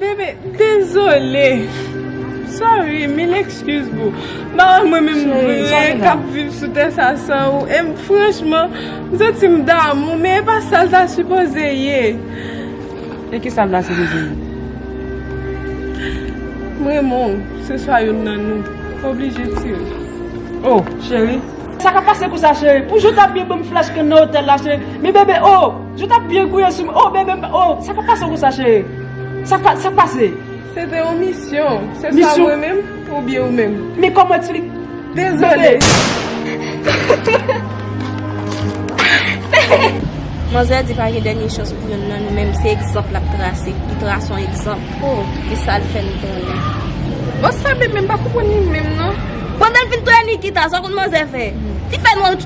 Bebe dezole sorry mil excuse boo m pa wè mwen menm vre kap viv sou tè sa san ou e m franchman m santi m damou men e pa sa l ta sipoze ye e ki sa l ta sipoze ye m renmen w se swa youn nan nou m oblije di l oh cheri sa kap pase konsa cheri pou jou ta byen banm flash ke nan otèl la cheri men bebe oh. Yo tap byen gouye sou mwen oh bebe m oh sa pa pase w konsa cheri sa pa sa pase. Se te yon misyon. Se sa mwen menm ou byen ou menm. Men kòman eksplike. Dezole. Manzè di pa gen dènye chans pou youn nan nou men se egzanp lap trase li trase yon egzanp oh e sa l fè nou konnen bon sa bebe m pa konprann li menm non pandan l fin touye Nikita sa w konn manzè fè li fè nou.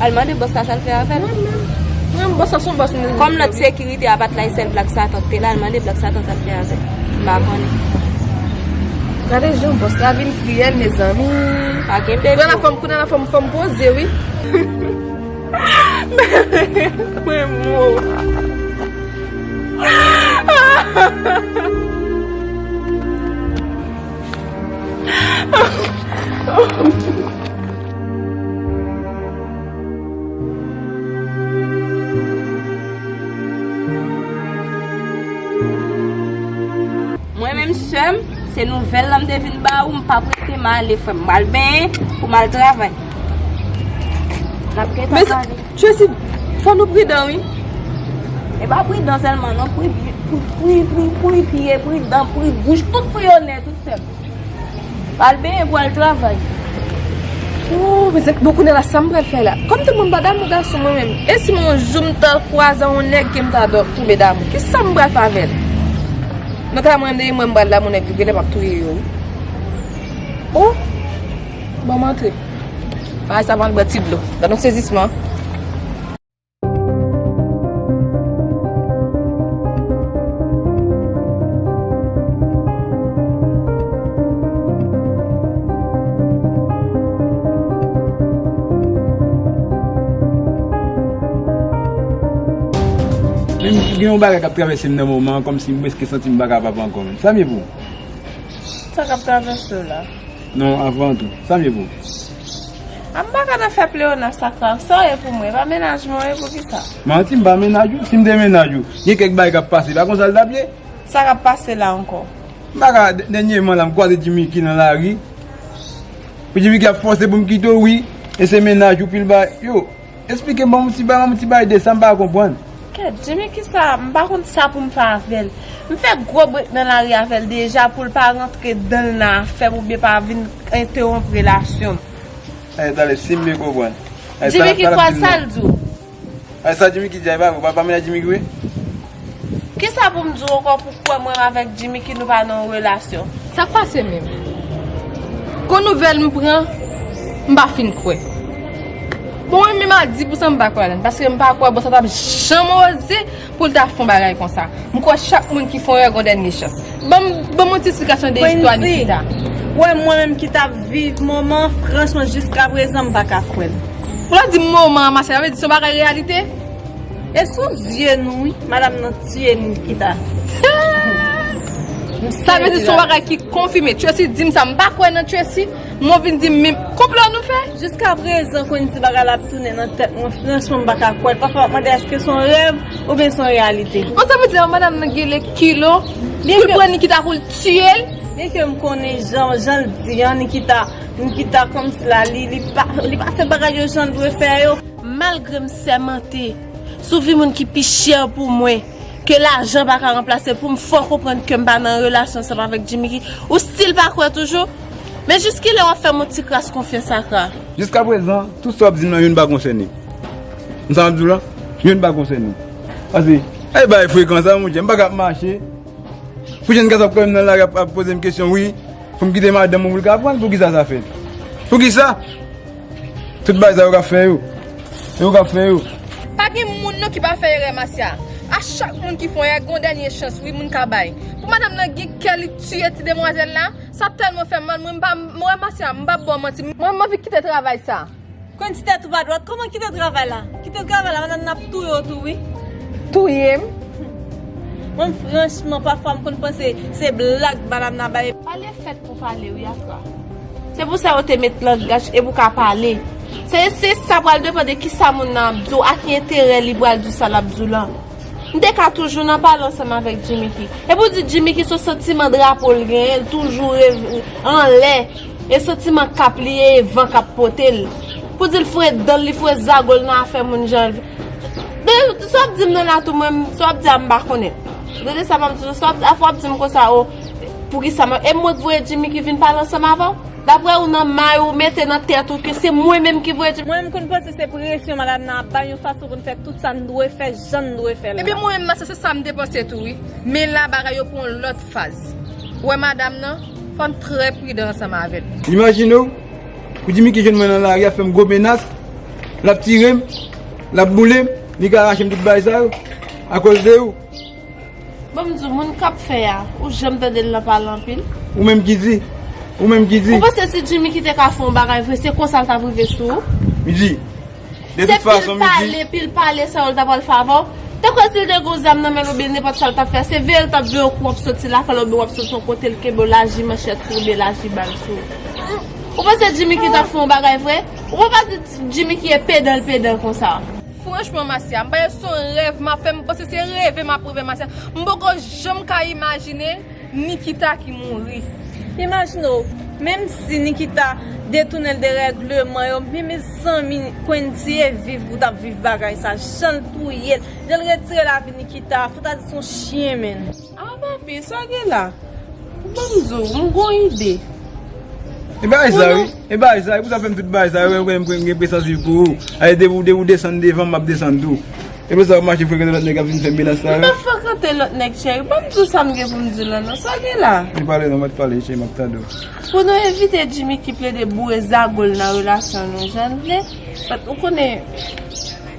Al mande bòs la sa l fè avè l. Bòs la se yon bòs moun. Kòm lòt sekirite a pa t la e sèl Blak Satan ki te la, al mande Blak Satan sa l fè avè l. M pa konnen. Gade jan bòs la vin kriyèl mezanmi. Pa gen pè di yo. Kounye a la fò m poze wi. Mwen mouri. Mwen menm sèm se nouvèl lan m te vin ba ou m pa prete m ale frèm m pral benyen pou m al travay nap gentan pale Tracy fò nou pridan wi e pa pridan sèlman non pri pri pri pri pri pridan pri bouch tout pri yo nè tout sèm. Al benyen pou al travay. Ooh men bon kounye la sam pral fè la kòm tout moun pa damou gason mwen menm e si yon jou m ta kwaze yon nèg kem ta tonbe damou kisam pral fè avèl mwen ta mande li mwen m pral damou nèg vre genlè map touye yo wi ooh banm antre bagay sa pran bann ti dlo gadon sezisman. Gen yon bagay kap travèsem nan moman an kòmsi m prèske santim pa ka papa ankò menm. Sa m ye pou ou? Sa kap travèsew la? Non avan tou, sa m ye pou ou? Anbaka nan fè pleonas ak Ralph sa w ye pou mwen, e pa mennaj mwen w ye poukisa? Manti m pa mennaj ou, si m te mennaj ou gen kèk bagay k ap pase e pa konsa l t ap ye? Sa k ap pase la ankò? M pa ka, dènyeman la m kwaze Djimiki nan lari, Djimiki ap fòse pou m kite w wi, e se mennaj ou pil bagay, yo. Esplike banm yon ti bagay yon ti bagay de sa m pa konprann. Kèt di men kisa m pa konn sa poum fè avèl m fè gwo brek nan lari avèl deja poul pa rantre danl nan afèm oubyen pa vin entewonp relasyon m. Anh tande sim byen konprann. Anh sa lap dim nan. Anh sa jimiki di a e pa vre ou pa pale a jimiki vre. Kisa pou m di w ankò pou kwè mwen avèk Jimmiky nou pa nan yon relasyon? Sa k pase menm? Gwo nouvèl m pran, m pa fin kwè. Bon mwen menm a di pou sa m pa kwè ladan l paske m pa kwè Bossa t ap janm oze pou l ta fè yon bagay konsa. M kwè chak moun ki fè yon erè gen yon dènye chans. Ban m yon ti esplikasyon de istwa Nikita. Kweensi, wè mwen menm ki t ap viv moman an franchman jiskaprezan m pa ka kwè l. Ou la di m moman an Masay sa vle di se yon bagay reyalite? E sou zye nou wi madam nan tiye m nikita. Sa vle di son bagay ki konfime. Tracy dim sa m pa kwè nan Tracy m ou vin dim menm konplo nou fè. Jiska prezan kwen di bagay la ap tounen nan tèt mwen franchman m paka kwèl pafwa map mande eske son rèv oubyen son reyalite. Bon sa vle di madam nan gele kilo poul pran Nikita poul tiyel. Byen ke m konnen jan janl di an Nikita Nikita kòmsi la li pa fè bagay yo janl dwe fè yo. Malgre m sèmante sou vi moun ki pi chè pou mwen ke lajan pa ka ranplase pou m fè w konprann ke m pa nan relasyon ansanm avèk Jimmiky, ou stil pa kwè toujou? Men jiskilè w ap fè m yon ti kras konfyans Acra? Jiskaprezan, tout sa w ap di m lan youn pa konsène m. Sa m ap di w lan, youn pa konsène m. Pase, e bagay frekan sa monchè, m pa ka ap mache pou jenn gason ap kwè m nan lari ap poze m kesyon wi pou m kite madanm mwen pou l ka aprann poukisa sa fèt. Poukisa? Tout bagay sa yo ka fè yo. Yo ka fè yo. Pa gen moun non ki pa fè erè Masya a chak moun ki fon erè gon dènye chans wi moun ka bay pou madam nan gen kè li tiye ti demwazèl la sa tèlman fèm mal mwen mpa mwen Masya mpa bò manti mwen manvi kite travay sa. Kwen ti tèt ou pa dwat kòman kite travay la kite travay la madam nan ap touye w tou wi. Touyem. Mwen franchman pafwa m konn panse se blag madam nan bay. Pale fèt. Ou pale wi Afra. Se pou sa yo te met langaj e pou ka pale. Se se sa pral depan de ki sa moun nan ap di w a ki enterè li pral di sa l ap di w lan. M te ka toujou nan pale ansanm avèk Jimmiky. E pou di Jimmiky se w santiman drapo l genyen l toujou reve anlè e santiman kap li e van kap pote l. Pou di l fre dan l li fre zago l nan afè moun jan l vle. Dede sa w ap di m nan la tou mwen m sa w ap di a m pa konnen. Dede sa m ap di w sa w ap di Afra w ap di m konsa o. Poukisa map e mwen k voye Jimmy ki vin pale ansanm avèw? Daprè ou nan may ou mete nan tèt ou ke se mwen menm ki voye Jimmy? Mwen menm konn panse se presyon madam nan ap bay yon fason pou n fè tout sa n dwe fè jan n dwe fè l la. Ebyen mwen menm nan se se sa m te panse tou wi. Men la bagay yo pran yon lòt faz. Ou wè madam nan, fò n trè pridan ansanm avè l. Imajine w, pou Jimmy ki jwenn mwen nan lari ap fè m gwo menas, lap tire m, lap boule m, li ka rache m tout bagay sa yo, akoz de ou. Banm diw moun kap fè a ou janm tandel nan pale anpil. Ou menm ki di, ou menm ki di. Ou panse si Jimmy ki te ka fè yon bagay vre se konsa l tap rive sou ou. M di, de tout fason m di. Se pil pale, pil pale sa yo l ta pral fè avè w. Te kwè si l te gen yon zam nan men l oubyen nenpòt sa l tap fè, se veye l tap veye w kou wap soti lakay l oubyen wap soti yon kote l kenbe w laji manchèt sou ou oubyen laji bal sou ou. Ou panse Jimmy ki tap fè yon bagay vre? Ou pa di Jimmy ki e pedan l pedan konsa. Franchman Masya m pa ye son rèv map fè m panse se reve map reve Masya m poko janm ka imajine Nikita ki mouri. Imajine w menm si Nikita detounen l de règleman yo men mezanmi Kuentie viv pou tap viv bagay sa jan l touye l jan l retire lavi Nikita fout ta di son chyen menn. Ah papi sa gen la. Ban m di w, m gon ide. E bagay sa wi. E bagay sa wi. Pou sa w fè m tout bagay sa yo. Ou konnen m konnen m gen pesans viv pou ou. Alè depi ou desann devan m, m ap desann tou. E pou sa w mache frekante lòt nèg k ap vin fè menas la yo. M pa frekante lòt nèg cheri. Ban m di w sa m gen pou m di w la non. Sa gen la. Ou pale non, bat pale cheri m ap tande w. Pou nou evite Jimmy ki plede boure zago l nan relasyon nou jan l vle. Ou konnen.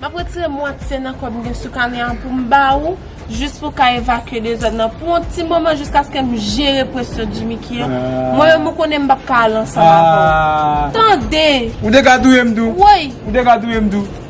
Map retire mwatye nan kob m gen sou kamyon an pou m ba ou Jis pou w ka evakye dezòd nan pou yon ti moman jiskaske m jere presyon di Miki an Mwen menm ou konnen m pap ka al ansanm avè w Tande! Ou te ka touye m tou Woy! Ou te ka touye m tou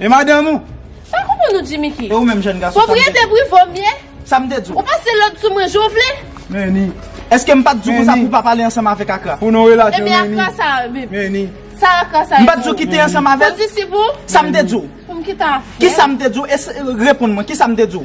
E madanm ou? M pa konprann ou Jimmy ki. E ou menm jèn gason sa m te di w? Pwopriyete prive w m ye? Sa m te di w? Ou pase lòd sou mwen jan w vle? Meni. Eske m pa t di w konsa pou w pa pale ansanm avèk Akra? Pou nou relasyon Meni. Ebyen Akra sa a menm? Meni. Sa Akra sa a e pou ou? M pa t di w kite ansanm avè l? Kondisip ou? Sa m te di w? Pou m kite afè? Kisa m te di w? Reponn mwen, kisa m te di w?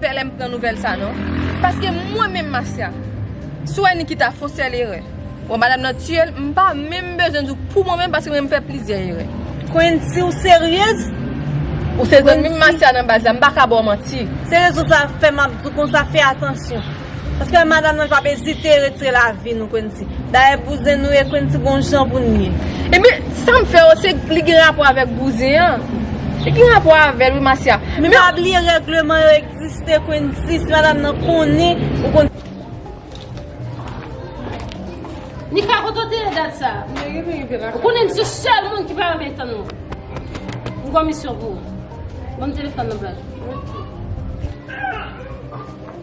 Pè lèm pran nouvèl sa non. Paske mwen menm Masya. Si w wè Nikita fon sèl erè. Bon madam nan tiye l m pa menm bezwen di w pou mwen menm paske mwen menm m fè plizyè erè. Queen si w seryez. Ou se zanmim Masya nan baz la m paka ba w manti. Seryez ou sa fè map di w konsa fè atansyon. Paske madam nan pap ezite retire lavi nou Quency. Dayè bouzen nou ye Quency gon jan pou nou ye. Ebyen sam fè yo se li gen rapò avèk bouzen an Li gen rapò avèl wi Marcia Men pa bliye règleman yo egziste Quency si madam nan konnen ou konn. Li pa konn tande dat sa Ou konnen m se sèl moun ki pa renmen tann ou M gon misyon pou ou Banm telefòn nan blan.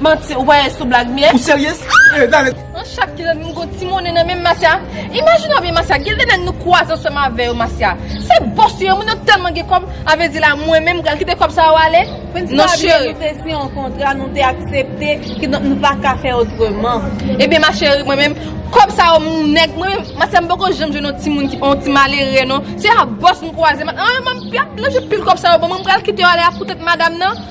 Manti, ou pa ye sou blag myè? Ou seryez? Ee, dale! Nan chak ki zanmi m gon ti monnen nan menm Masya Imajine w byen Masya gen de nèg nou kwaze ansanm avè yo Masya Se bòs yo ye moun yo tèlman gen kòb Avè di la mwen menm m pral kite kòb sa yo ale Non cheri Prensipal byen nou te siyen yon kontra nou te aksepte kidonk nou pa ka fè otreman Ebyen ma cheri mwen menm kòb sa yo m nèg mwen menm Masya m poko janm jwenn yon ti moun ki pa yon ti malere non Se a bòs m kwaze Masya m pral pil kòb sa yo ban mwen m pral kite yo ale a pou tèt madam nan